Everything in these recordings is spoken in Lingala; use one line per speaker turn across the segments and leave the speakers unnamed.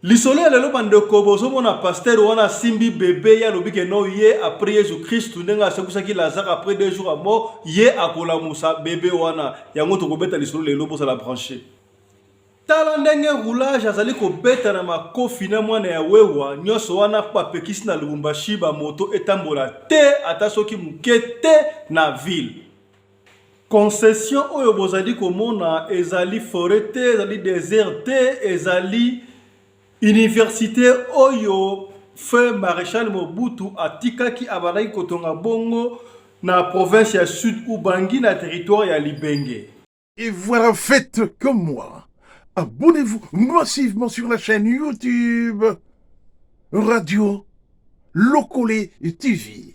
lisolo ya lelo bandeko bozomona pastere wana asimbi bebe ye alobi ke no ye apres yesu kristu ndenge asekwisaki lazare apres deux jours ya mort ye akolamusa bebe wana yango tokobeta lisolo lelo bozala branche tala ndenge roulage azali kobeta na makofi na mwana ya wewa nyonso wana mpo bapekisi na lubumbashi bamoto etambola te ata soki moke te na ville Concession oyo bozali komona ezali foret te, ezali desert te, ezali université oyo feu maréchal Mobutu atikaki abandaki kotonga bongo na province ya Sud Ubangi na territoire ya Libenge. Et voilà,
faites comme moi. Abonnez-vous massivement sur la chaîne YouTube Radio Lokole TV.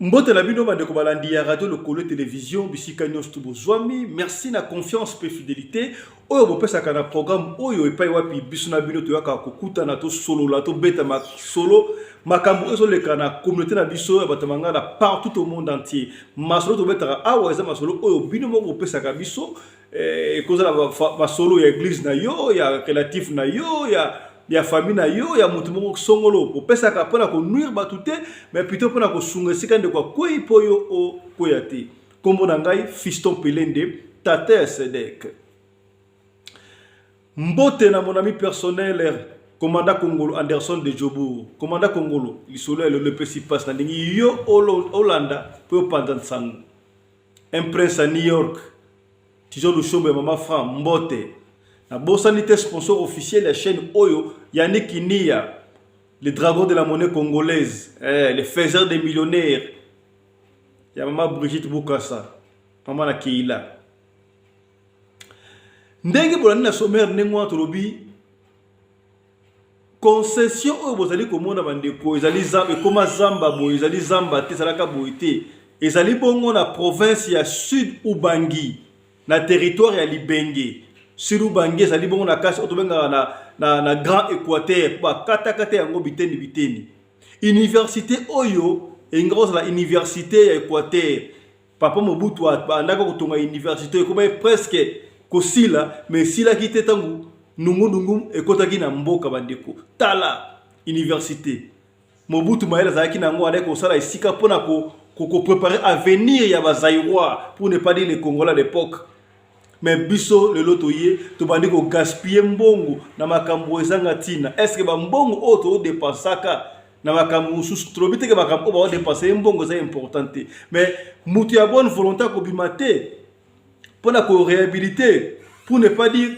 Mbote na bino bandeko balandi ya radio lokolo television bisika nyonso to bozwami merci na confiance mpe fidelité oyo bopesaka na programme oyo epai wapi biso na bino toyaka kokutana tosolola tobeta masolo makambo oyo ezoleka na communauté na biso ya bato mangana partout au monde entier masolo tobetaka awa eza masolo oyo bino moko bopesaka biso eh, ekozala masolo ya eglise na yo ya relatif na yo ya ya famille na yo ya moto moko songolo opesaka mpo na konuire bato te mais plutôt mpo na kosunga esika ndeko akwei mpo yo okwea te nkombo na ngai fiston pelende tata ya sedek mbote na monami personnel komanda kongolo anderson de jobour komanda kongolo lisolo ya lelo epesi mpasi nalingi yo olanda mpe opanza nsango un prince à New York tizo lushombo ya mama franc mbote nabosani te sponsor officiel ya chaîne oyo yannick kinia le dragon de la monnaie congolaise eh, le faiseur des millionnaires ya mama brigitte bukasa mama na keila ndenge bolandi na sommaire ndenge wana tolobi concession oyo bozali komona bandeko ezali zamba ekoma zamba boye ezali zamba te ezalaka boye te ezali bongo na province ya sud ubangi na territoire ya libenge sud ubangi ezali bongo na kasi oyo tobengaka na, na, na grand équateur mpo bakatakata yango biteni biteni université oyo elingi kozala université ya équateur Papa Mobutu abandaki kotonga universite ekomaki presque kosila mais esilaki te ntango nungunungu ekotaki na mboka bandeko tala universite mobutu mayele azalaki na yango alaki kosala esika mpona koprepare ko, ko avenir ya bazairois pour ne pas dire le congolais à l'époque me biso lelo toye tobandi kogaspille mbongo na makambo ezanga ntina estce bambongo oyo todepensaka na makambo mosusu tolobi teke makambo oyo baodepense ye mbongo eza important te me moto ya bonne volonté akobima te mpo na korehabilite pour ne pas dire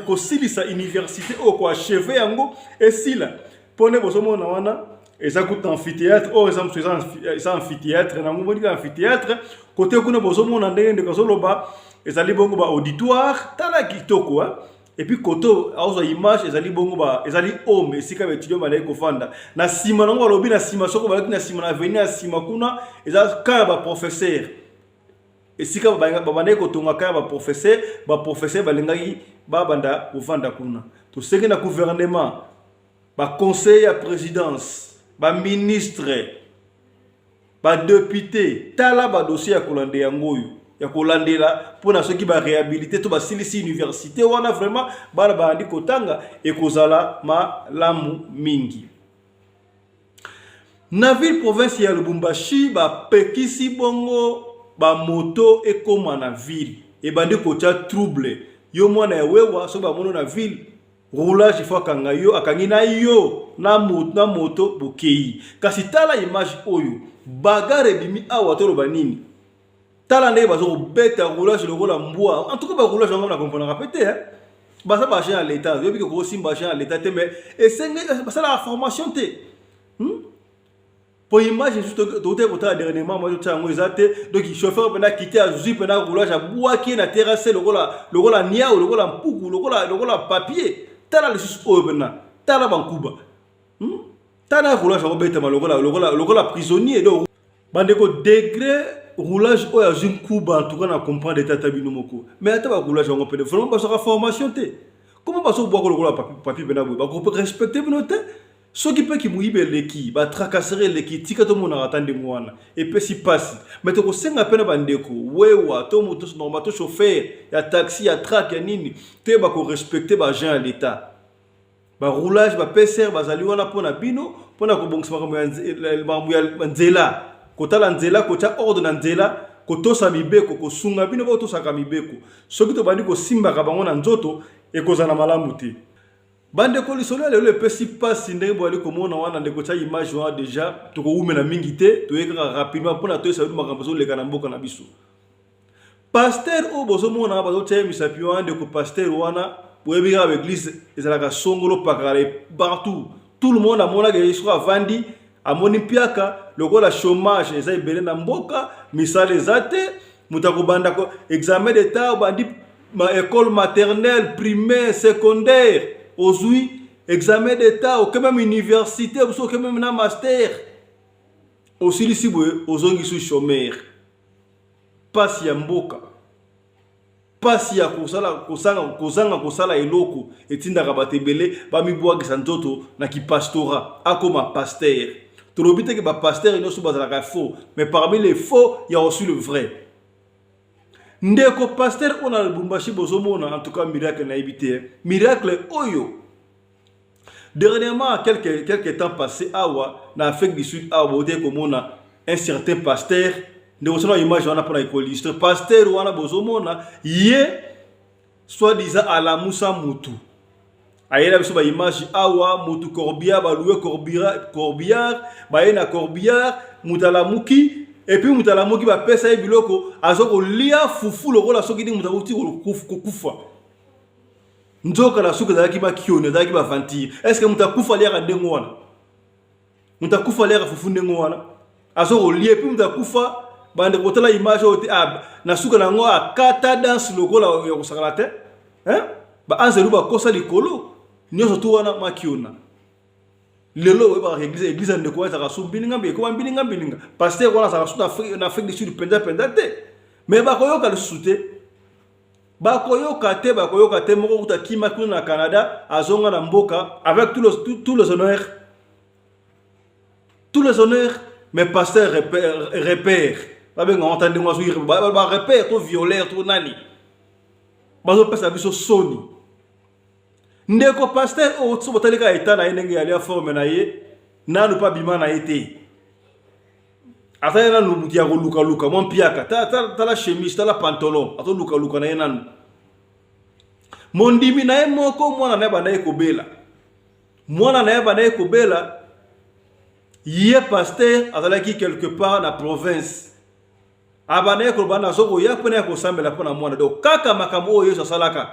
kosilisa université oyo koacheve yango esila mpo nde bozomona wana eza kuta amphithéâtre oyo eza mosusu eza amphithéâtre nango moni ka amphithéâtre kote kuna bozomona ndenge ndeko azoloba ezali bongo ba auditoire tala kitoko epuis kote azwa image ezali bongo ba ezali home esika ba étudiant balaki kofanda na nsima nango balobi na nsima soko balaki na nsima na avenir ya nsima kuna eza kaka ba professeur esika babandaki kotongaka ya baprofesere baprofesere balingaki babanda kovanda kuna tosengi na guvernema baconseiller ya présidence baministre badepute tala badossier ya kolanda yango oyo ya kolandela mpona soki barehabilite to basilisi université wana vraiment bana bayandi kotanga ekozala malamu mingi Na ville province ya Lubumbashi bapekisi bongo bamoto ekoma na ville ebandi kotya trouble yo mwana ya wewa soki bamono na ville roulage ifo akanga yo akangi na yo na moto na moto bokei kasi tala image oyo bagare ebimi awa toloba nini tala ndenge bazo kobeta roulage lokola mbwa en tout cas ba roulage yango na comprenaka pe te hein baza ba agent ya leta oyebi ke kosimba agent ya leta te mais esenge basalaka formation te hmm? po image esusu tokotaki kotala dernièrement mwa totya yango eza te donc chauffeur mpena kite azwi mpena roulage abwaki ye na terrasse lokola lokola niau lokola mpuku lokola lokola papier tala lisusu oyo mpena tala bankuba hmm? tala roulage akobetama lokola lokola lokola prisonnier donc bandeko degre roulage oyo azwi nkuba antuka na comprendre ete ata bino moko mais ata baroulage yango pene vraiment bazwaka formation te koma bazobwaka lokola papi pena boye bakorespecte bino te soki mpe kimoyibi eleki batracasere eleki tika tomonaka ata ndenge wana epesi mpasi mai tokosenga mpe na bandeko wewa to moto normal to chauffer ya taxi ya track ya nini te bakorespecte baagent ya leta ba roulage ba PCR bazali wana mpo na bino mpo na kobongisa makambo ya nzela kotala nzela kotya ordre na nzela kotosa mibeko kosunga bino botosaka mibeko soki tobandi kosimbaka bango na nzoto ekozala malamu te bandeko lisolo ya lelo epesi mpasi ndenge boyali komona wana ndeko tya image wana deja tokowumela mingi te toye kaka rapidement mpona toyesa bino makambo ezoleka na mboka na biso pasteur oyo bozomona nga bazotia ye misapi wana ndeko pasteur wana boyebi kaka baeglise ezalaka songolo pakala partout tout le monde amonaka ye soki avandi amoni mpiaka lokola chômage eza ebele na mboka misala eza te moto akobanda examen d'etat obandi école maternelle primaire secondaire ozwi examen d'etat oke meme université osi oke meme na master osilisi boye ozongisi chômeur pasi ya mboka pasi ya kosala kosanga kozanga kosala eloko etindaka bato ebele bamibwakisa nzoto na kipastora akoma pasteur tolobi teke bapasteur nyonso bazalaka faux mais parmi les faux ya aussi le vrai ndeko pasteur oyo na lubumbashi bozomona en tout cas miracle nayebi te miracle oyo Dernièrement, quelques, quelques temps passé, awa, na Afrique du Sud, awa, bote komona un certain pasteur, ndeko sona image wana pona ekoliste, pasteur wana bozomona, ye, soit disant alamusa mutu. ayela biso baimage awa motu corbillard baloue corbillard baye na corbillard moto alamuki epuis moto alamuki bapesa ye biloko aza kolia fufu lokola soki ndenge moto akuti kokufa nzoka na suka ezalaki bakioni ezalaki bavantire estce moto akufa aliaka ndenge wana moto akufa aliaka fufu ndenge wana aza kolie mpe moto akufa bande kotala image oyo te ah, na suka na yango akata ah, danse lokola ya kosakana te baanzelu bakosa likolo nyonso to wana makiona lelo oyebaka eglise eglise ya ndeko wana ezalaka su mbilinga mbi ekoma mbilinga mbilinga paster wana azalaka su na afrique du sud mpenza mpenza te me bakoyoka lisusu te bakoyoka te bakoyoka te moko kuta kima kuna na canada azonga na mboka avec tous les, tous, tous les honneurs tous les honneurs mais pasteur repère, repère. babenga wata ndenge azwi barepère to violeur to nani bazopesa biso soni ndeko pasteur oyo oh, so botali kaka eta na ye ndenge yali ya forme na ye nanu mpe abima na ye te aza ye nanu moto ya kolukaluka mwa mpiaka tala chemise tala pantalon azolukaluka na ye nanu mondimi na ye moko mwana na ye bandaki kobela mwana na ye bandaki kobela ye paster azalaki quelque part na province abandaki koloba nazo koya mpo na ya kosambela mpo na mwana donc kaka makambo oyo yesu asalaka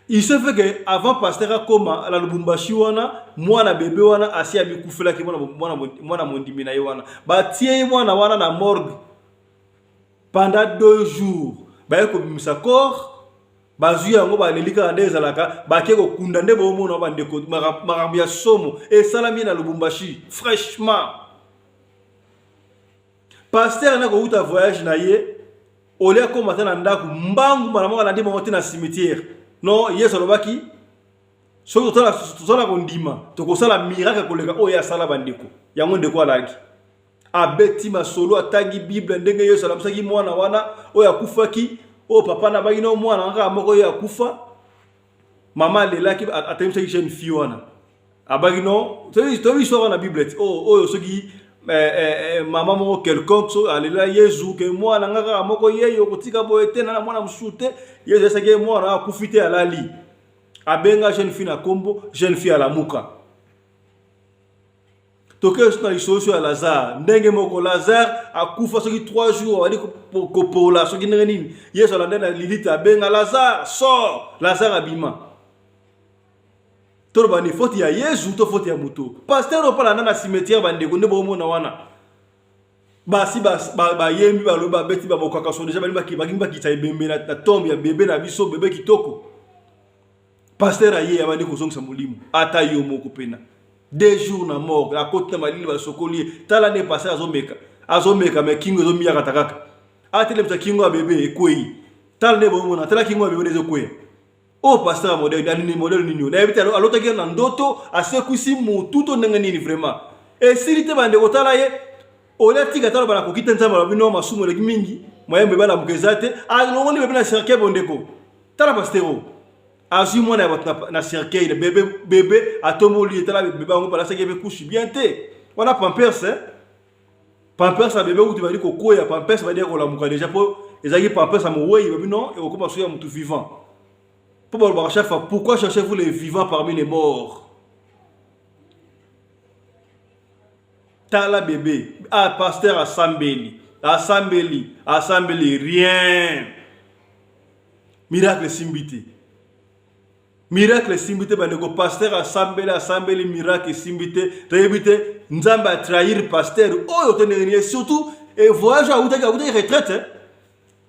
il se fait que avant pasteur akoma na lubumbashi wana mwana bebe wana asi amikufelaki mwana mondimi na ye wana batie ye mwana wana na morgue pendant deux jours baye kobimisa corps bazwi yango baleli kaka nde ezalaka bake kokunda nde boomona bandeko makambo ya somo esalami na lubumbashi fraîchement Pasteur na kowuta voyage na ye olia koma ata na ndako mbangu mbala moko alandi bango te na cimetière non yesu alobaki soki tozala kondima tokosala miracle koleka oyo ye asala bandeko yango ndeko alaki abeti masolo atangi bible ndenge yesu alamisaki mwana wana oyo akufaki oyo papa na baki na mwana kaka moko oyo akufa mama alelaki atemisaki jeune fille wana abaki non toyebi histoire wana na bible ti oh, oyo soki eh, eh, eh, mama moko quelconque so alela yezu ke mwana nga kaka moko yeyo kotika boye te na mwana mosusu te yezu esaki ye mwana akufi te alali abenga jeune fille na nkombo jeune fille alamuka tokei so na lisolo so ya lazare ndenge moko lazare akufa soki 3 jours abandi kopola soki ndenge nini yesu alanda na lilite abenga lazare sor lazare abima toloba ni foti ya yesu to foti ya moto paster opalanda na cimetière bandeko nde bokomona wana basi bayembi balobi babeti babokaka so deja balingi bakitisa ebembe na tombe ya bebe na biso bebe kitoko pasteur aye abandi kozongisa molimo ata yo moko pena deux jours na morgue akoti na malili basokoli ye tala nde pasteur azomeka azomeka me kingo ezomiyakata kaka atelemisa kingo ya bebe ekwei tala nde bomona tala kingo ya bebe nde ezokweya oyo oh, pasteur ya modele alini modele nini nayebi te alotaki na ndoto asekwisi motu to ndenge nini vraiment esili te bandeko tala ye olia tika talo bana kokita nzambe alobi no masumu eleki mingi moyembe balamuka eza te alongoli ah, bebe na cercueil bondeko tala pastero azwi mwana ya bato na cercueil bebe bebe atomboli ye tala bebe yango balasaki ebe kushi bien te wana pampers eh? pampers ya bebe kutu bali kokwea pampers bali ya kolamuka deja mpo ezalaki pampers ya mowei babi non ekokoma soki ya motu vivant mpo balobaka chaque fois pourquoi cherchez vous les vivants parmi les morts tala bebe ah, pasteur asambeli asambeli asambeli rien miracle esimbi te miracle esimbi te bandeko pasteur asambeli asambeli miracle esimbi te toyebi te nzambe atrahir pasteur oyo te ndenge niye surtout voyage awutaki awutaki retraite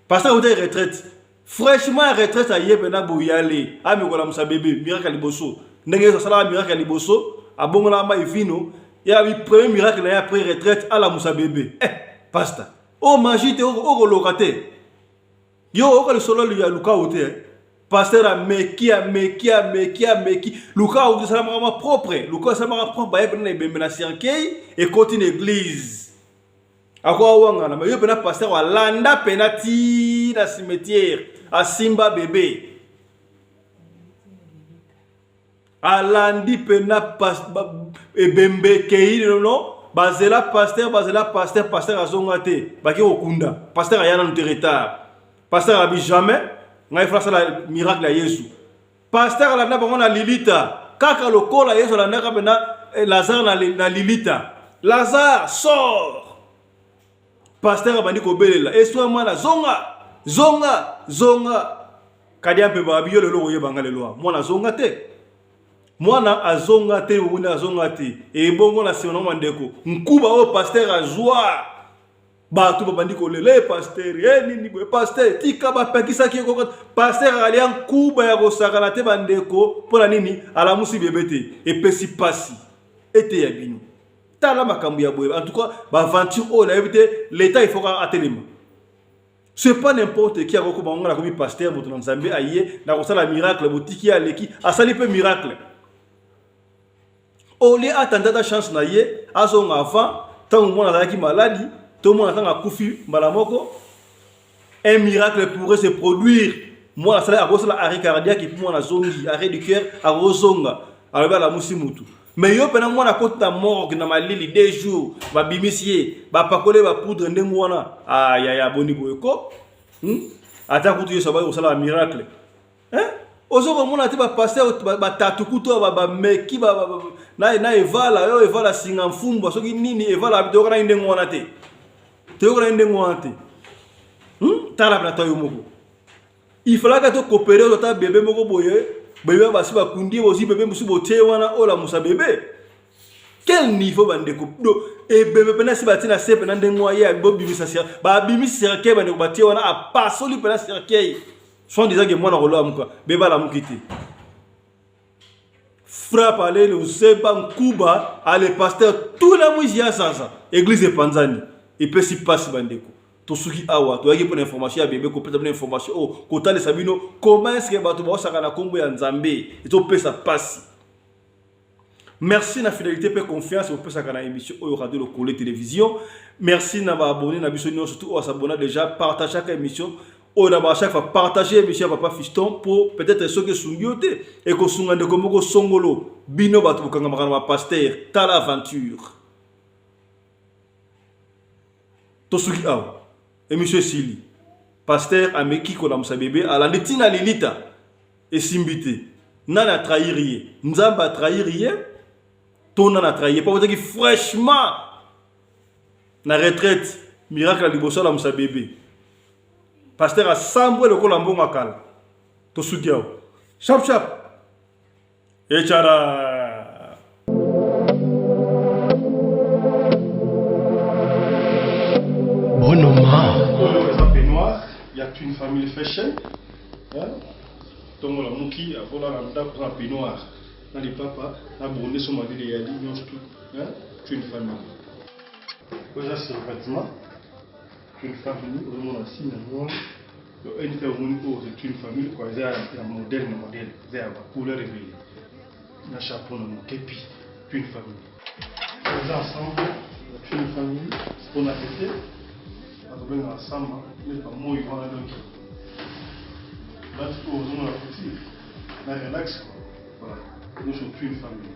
Pasteur Ote retraite. Fraîchement ya retraite aye pena boyale. Ami kola musa bebe miracle liboso. Ndenge yesu sala miracle liboso, abongola mai vino, ya bi premier miracle na après retraite ala musa bebe. Eh, pasteur. Oh magie te oko loka te. Yo oko le solo ya luka ote. Eh. Pasteur ameki ameki ameki ameki. Luka ote sala mama propre. Luka sala mama propre ba ye pena na ebembe na cercueil et continue l'église. akoya wangana mais yo pena pasteur alanda pena ti na cimetière asimba bebe alandi pena ebembe ekei nono bazela pasteur bazela pasteur pasteur azonga te baki kokunda pasteur aya nanu te retard pasteur abi jamais ngai fala sala miracle ya yesu Pasteur alanda bango na Lilita kaka lokola Yesu alandaka pena eh, Lazare na, na Lilita. Lazare sort. Pasteur abandi kobelela eswa mwana zonga zonga zonga kadia mpe babi yo lelo okoyeba nga lelo mwana azonga te mwana azonga te obunda azonga te ebongo na nsima na bandeko nkuba oyo pasteur azwa bato babandi kolela e paster e eh, nini boye paster tika bapekisaki ye koko paster alia nkuba ya kosakana te bandeko mpo na nini alamusi bebe te epesi mpasi eteya bino tala makambo ya boye en tout cas baaventure oyo nayebi te leta ifoka atelema c'est pas n'importe qui akokoma ngo nakomi paster moto na nzambe aye nakosala miracle botiki aleki asali mpe miracle au lieu atanda ata chance na ye azonga avant ntango mwana azalaki maladi to mwana ntango akufi mbala moko un miracle pourrait se produire mwana asala akosala arrêt cardiaque epuis mwana azongi arrêt du cœur akozonga alobi alamusi mutu me yo mpena mwana akota morgue na malili de jour babimisi ye bapakole bapoudre ndenge wana ayaya ah, boni boye ko hmm? ata kutu yesu abaki kosala miracle eh? ozo komona te bapaster batatu kutu bameki na evala yo evala singa mfumbwa soki nini evala toyokanaki ndenge wana te toyokanaki ndenge wana te hmm? tala plata yo moko ifalaka tokopere ozo ata bebe moko boye bebe basi bakundi bozi bebe mosusu botie wana olamusa bebe quel niveau bandeko do ebebe mpena si batie na se mpena ndenge waye bobimisa babimisi cercueil bandeko batie wana apasoli mpena cercueil Son disant que mwana kolo amuka beba la mukiti. Frappe à l'aile usepa nkuba à le pasteur tout la mwizi ya sasa église epanzani epesi pasi bandeko tosuki awa toyaki mpona information ya bebe kopesa bino information oyo oh, kotalisa bino comment eske bato baosaka na nkombo ya nzambe ezopesa pasi merci na fidélité mpe confiance bopesaka na émission oyo radio lokole télévision merci na baabonné na biso nyonso tu oyo asabona déjà partagaka émission oyo na bachaque fois partage émission ya papa fiston mpo peut-être soki esungi yo te ekosunga ndeko moko songolo bino bato bokangamaka na bapaster tala aventure tosuki awa Emission esili. Pasteur ameki kolamusa bebe, alandi tina lilita. Esimbi te. Nani atrahir ye? Nzambe atrahir ye? To nani atrahir ye? Papa fraîchement na retraite miracle liboso alamusa bebe. Pasteur asambwe lokola mbongo akala. Tosuki awa. Sharp sharp. Echara. une family fashion ntongo lamuki akola na ndako na peignoir na lipapa na bonde so malili eyali nyonso tu une famille oza sur vêtement Quelle famille ozo mona signe yango wana yo eni pe omoni oyo c'est une famille quoi eza ya modèle na modèle eza ya ba couleur ebele na chapeau na mokepi une famille eza ensemble une famille pona tete azobenga asamba nde bamoi wana donc bati oyo ozomona kuti na relax voilà nyonso une famille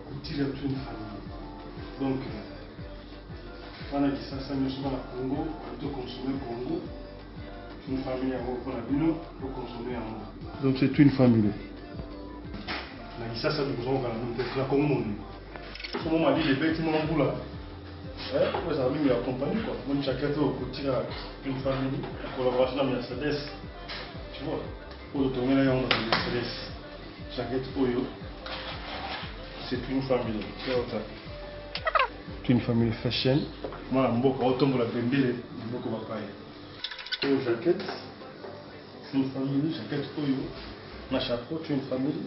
kutile une famille donc Bana kisasa nioso bana congo baye to consomme congo une famille yango mpo na bino to consomme yango donc c'est une famille na kisasa bikozongaka na mpe na congo moni somo malili ebeti mwa mbula oyo ezala mingi ya compagnie kua moni jaquette oyo kotika une famille na collaboration na mercedes tu vois Oyo tongela yango na Ministres. Jacket oyo c'est une famille. Yota. Une famille fashion. Mwana mboka otombola bendele mboka bapaya. Oyo jacket c'est une famille. Jacket oyo na chapeau une famille.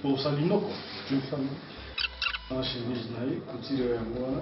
Pour Salinoko une famille. Na chemise na ye couture yango wana.